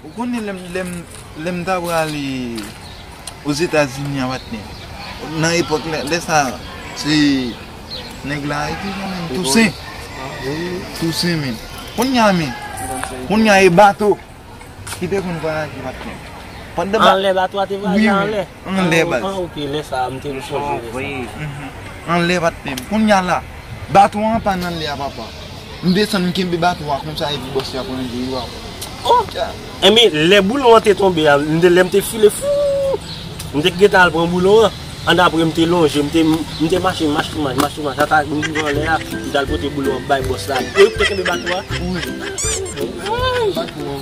Ou konnen lè m ta prale Ozetazini a patnè, nan epòk la, lè sa a, se nèg la e ki rele l Tousen. Tousen menm. Kounye a men, kounye a e bato ki te konn vwayaje patnè. Anlè, bato a te vwayaje anlè. Anlè baz. An ok lè sa a m te m sonje lè sa a. Anlè pa t pi bon. Kounya la baton an pa nan anlè a papa. M desann m kenbe baton an konsa epi bòs la pran jwe yo apre. Oh! Enben lè boulon an te tonbe a, m te lè m te file fouuuu. M te gentan al pran boulon an. Annapre m te lonje m te m te mache mach tou mach mach tou mach ata m rive anlè a m t al pote boulon an bay bòs la. Epi yo ki te kenbe baton an? Wi. Ayy! Baton an.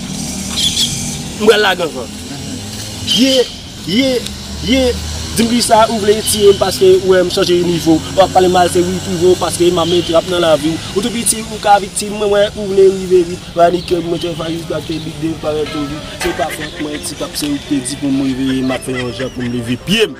M pral lage ankò. Ye, ye, ye, di m kisa ou vle tiye m paske ou wè m chanje nivo. Ou ap pale mal se wi frivò paske m ap met rap nan lavi w. Ou tou piti ou ka viktim mwen wè ou vle rive vit. Panikem mwen te fayi gate big dev parèt tou vit. Se pa fòt mwen ti pap se ou k te di pou m reveye m ap fè yon jan pou m leve pye m.